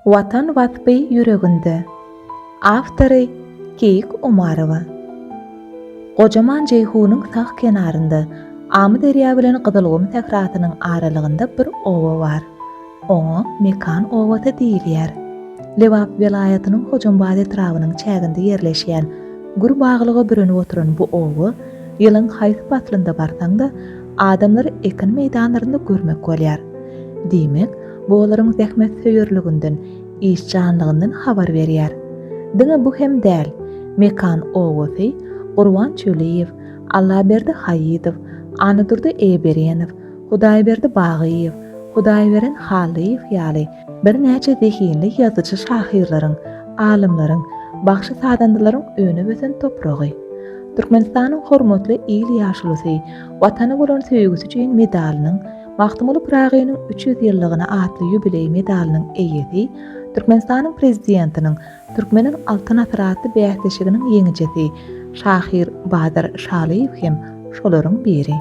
Watan waspy ýüreginde. Awtory, Keýik Omarowa. Gojaman Jeýhunyň sag kenarynda, Amyderýa bilen Gyzylgum sährasynyň aralygynda bir oba bar. Oňa Mekan obasy diýilýär. Lebap welaýatynyň Hojambaz etrabynyň çäginde ýerleşýän, gür baglyga bürenip oturan bu oba, ýylyň haýsy paslynda barsaň-da, Adamlary ekin meýdanlarynda görmek bolýar. Diýmek, bu olaryň zähmetsöýerliginden, işjanlygyndan habar berýär. Diňe bu hem däl, Mekan obasy, Gurban Çöliýew, Allaberdi Haýydow, Annadurdy Eýeberenow, Hudaýberdi Bagyýew, Hudaýberen Hallyýew ýaly Birnäçe zehinli ýazyjy-şahyrlaryň, alymlaryň, bagşy-sazandalaryň önen-ösen topragy. Türkmenistanyň Hormatly il ýaşulusy, Watana bolan söýgüsi üçin medalynyň, Magtymguly Pyragynyň üç ýüz ýyllygyna atly ýubileý medalynyň eýesi, Türkmenistanyň Prezidentiniň, Türkmeniň Altyn asyry atly bäsleşiginiň ýeňijisi, şahyr Bazar Şalyýew hem şolaryň biri.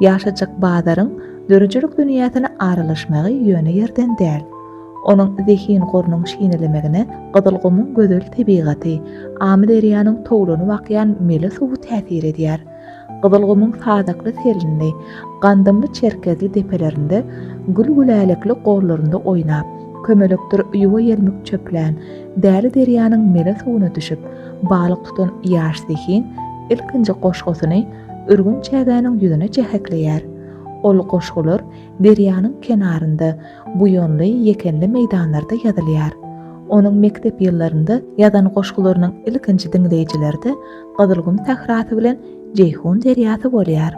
Ýaşajyk Bazaryň döredijilik dünýäsine aralaşmagy ýöne ýerden däl. Onuň zehin gorunyň şinelemegine Gyzylgumuň gözel tebigaty, Amyderýanyň towlanyp akýan mele suwy täsir edýär. Gyzylgumyň sazakly selindi, gandymly çerkezli depelerinde, gül-gülälekli gollarynda oýnap, kömelekdir ýuwa ýelmik çöplän, Däli derýanyň mele suwuna düşüp, balyk tutan ýaş zehin ilkinji goşgusyny ürgün çägäniň ýüzüne jähekleýär. Ol goşgular derýanyň kenarynda, buýanly, ýekenli meýdanlarda ýazylýar. Onuň mekdep ýyllarynda ýazan goşgularynyň ilkinji diňleýjileri-de Gyzylgum sährasy bilen Jeýhun derýasy bolýar.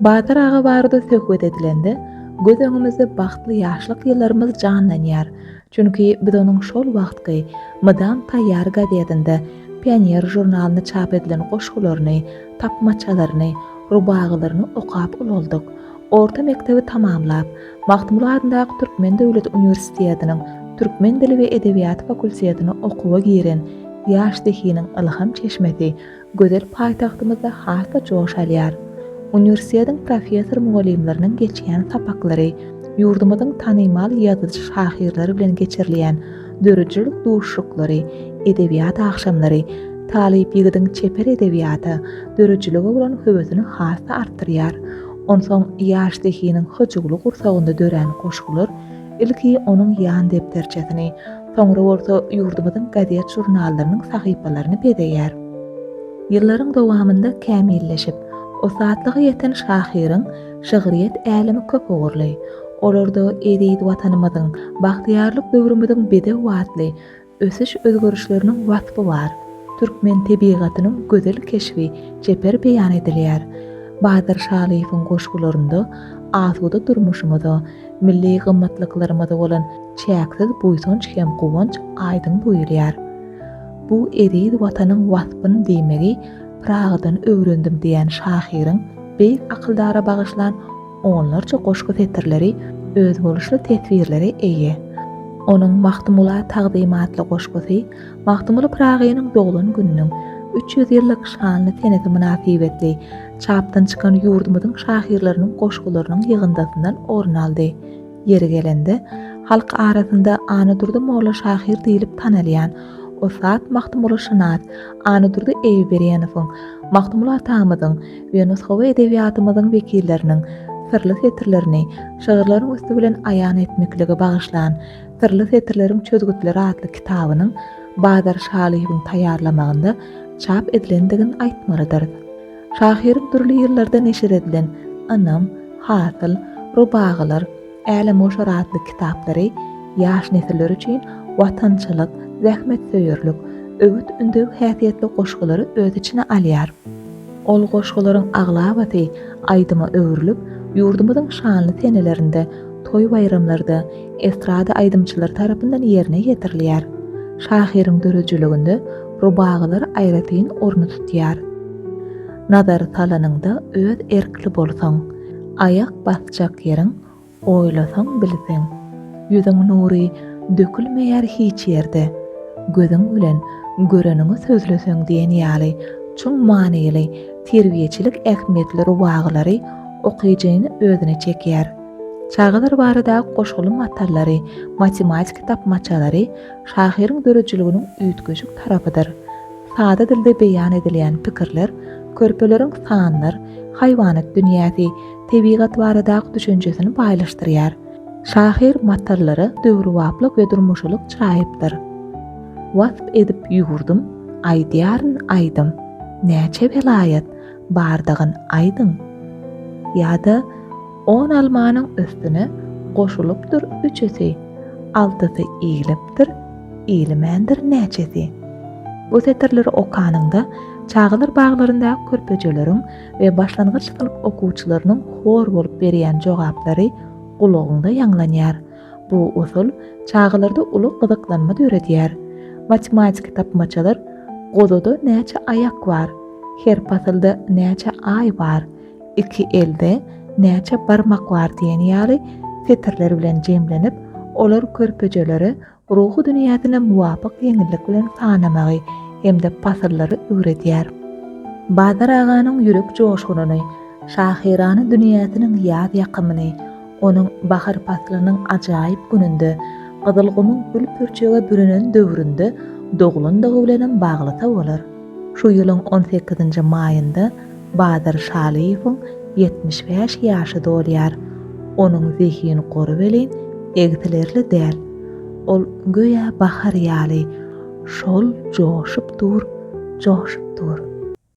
Batyr aga barada söhbet edilende, göz öňümizde bagtly ýaşlyk ýyllarymyz janlanýar. Çünki biz onuň şol wagtky Mydam taýýar gazetinde Pioner žurnalynda çap edilen goşgularyny, tapmaçalaryny, rubagalaryny okap ulaldyk. Orta mekdebi tamamlap, Magtymguly adyndaky Türkmen döwlet uniwersitediniň türkmen dili we edebiýaty fakultetine okuwa giren ýaş zehiniň ylham çeşmesi gözel paýtagtymyzda has-da joş alýar. Uniwersitetiň professor-mugallymlarynyň geçýän sapaklary ýurdumyzyň tanymal ýazyjy-şahyrlary bilen geçirilýän döredijilik duşuşyklary, edebiýat agşamlary talyp ýigidiň çeper edebiýata, döredijilige bolan höwesini has-da artdyrýar. Onsoň ýaş zehiniň hyjuwly gursagynda dörän goşgular ilki onuň ýan depderçesini, soňra bolsa ýurdumyzyň gazet-žurnallarynyň sahypalaryny bezeýär. Ýyllaryň dowamynda kämilleşip, ussatlyga ýeten şahyryň şygryýet älemi köp ugurly. Olarda eziz Watanymyzyň, bagtyýarlyk döwrümiziň bedew atly Ösüş özgerişleriniň waspy bar. Türkmen tebigatynyň gözel keşbi çeper beýan edilýär. Badyr Şalyýewiň goşgularynda asuda durmuşymyza, milli gymmatlyklarymyza bolan çäksiz buýsanç hem guwanç aýdyň duýulýar. Bu eziz Watanyň waspyny diýmegi Pyragydan öwrendim diýen şahyryň beýik akyldara bagyşlan Onlarça goşgy setirleri özboluşly teswirlere eýe. Onuň Magtymgula tagzym atly goşgusy Magtymguly Pyragynyň doglan gününiň üç ýüz ýyllyk şanly senesi mynasybetli çapdan çykan ýurdumyzyň şahyrlarynyň goşgularynyň ýygyndysyndan orun aldy. Ýeri gelende, halk arasynda Anadurdy molla şahyr diýlip tanalýan ussat magtymgulyşynas Anadurdy Eýuberenowyň, Magtymguly atamyzyň we nusgawy edebiýatymyzyň wekilleriniň syrly setirlerini şygyrlaryň üsti bilen aýan etmeklige bagyşlan Syrly setirleriň çözgütleri atly kitabynyň Bazar Şalyýewiň taýýarlamagynda çap edilendigini aýtmalydyrys. Şahyryň dürli ýyllarda neşir edilen Ynam, Hasyl, Rubagylar, Älemgoşar atly kitaplary ýaş nesiller üçin watançylyk, zähmetsöýerlik, öwüt-ündew häsiýetli goşgulary öz içine alýar. Ol goşgularyň aglabasy aýdyma öwrülip, ýurdumyzyň şanly senelerinde, toý-baýramlarda estrada aýdymçylary tarapyndan ýerine ýetirilýär. Şahyryň döredijiliginde rubagylar aýratyn orny tutýar. Nazar salanyňda öz erkli bolsaň, aýak basjak ýeriň, oýlasaň bilseň. Ýüzüň nury dökülmeýär hiç ýerde, gözüň bilen göreniňi sözleseň diýen ýaly çuň manyly terbiýeçilik ähmiýetli rubagylary okyjyny özüne çekýär. Çagalar barada goşguly matallary, matematik tapmaçalary şahyryň döredijiliginiň üýtgeşik tarapydyr. Sada dilde beýan edilýän pikirler, körpeleriň sanlar, haýwanat dünýäsi, tebigat baradaky düşünjesini baýlaşdyrýar. Şahyr matallara döwrebaplyk we durmuşylyk çaýypdyr. Wasp edip ýüwürdüm, aýdýaryn aýdym. Näçe welaýat. bardygyny aýdyň. Ýa-da on almanyň üstüne goşulypdyr üçüsi, altysy iýlipdir, iýilmändir näçesi. Bu setirleri okanyňda çagalar baglarynda körpejeleriň we başlangyç synp okuwçylarynyň hor bolup berýän jogaplary gulagyňda ýaňlanýar. Bu usul çagalarda uly gyzyklanma döredýär. Matematiki tapmaçalar Gozada näçe aýak bar? Her pasylda näçe aý bar? Iki elde näçe barmak bar diýen ýaly setirler bilen jemlenip, olar körpejelere ruhy dünýäsine muwapyk ýeňillik bilen sanamagy hem-de pasyllary öwredýär. Bazar aganyň ýürek joşgunyny, şahyrana dünýäsiniň ýaz ýakymyny, Onuň bahar paslynyň ajaýyp gününde, gyzylgumyň gül-pürçege bürenen döwründe doglandygy bilenem baglysa bolar. Şu ýylyň on sekizinji maýynda Badyr Şalyýewiň ýetmiş bäş ýaşy dolýar. Onuň zehin gory welin, egsilerli däl. Ol göýä bahar ýaly, şol joşup dur, joşup dur.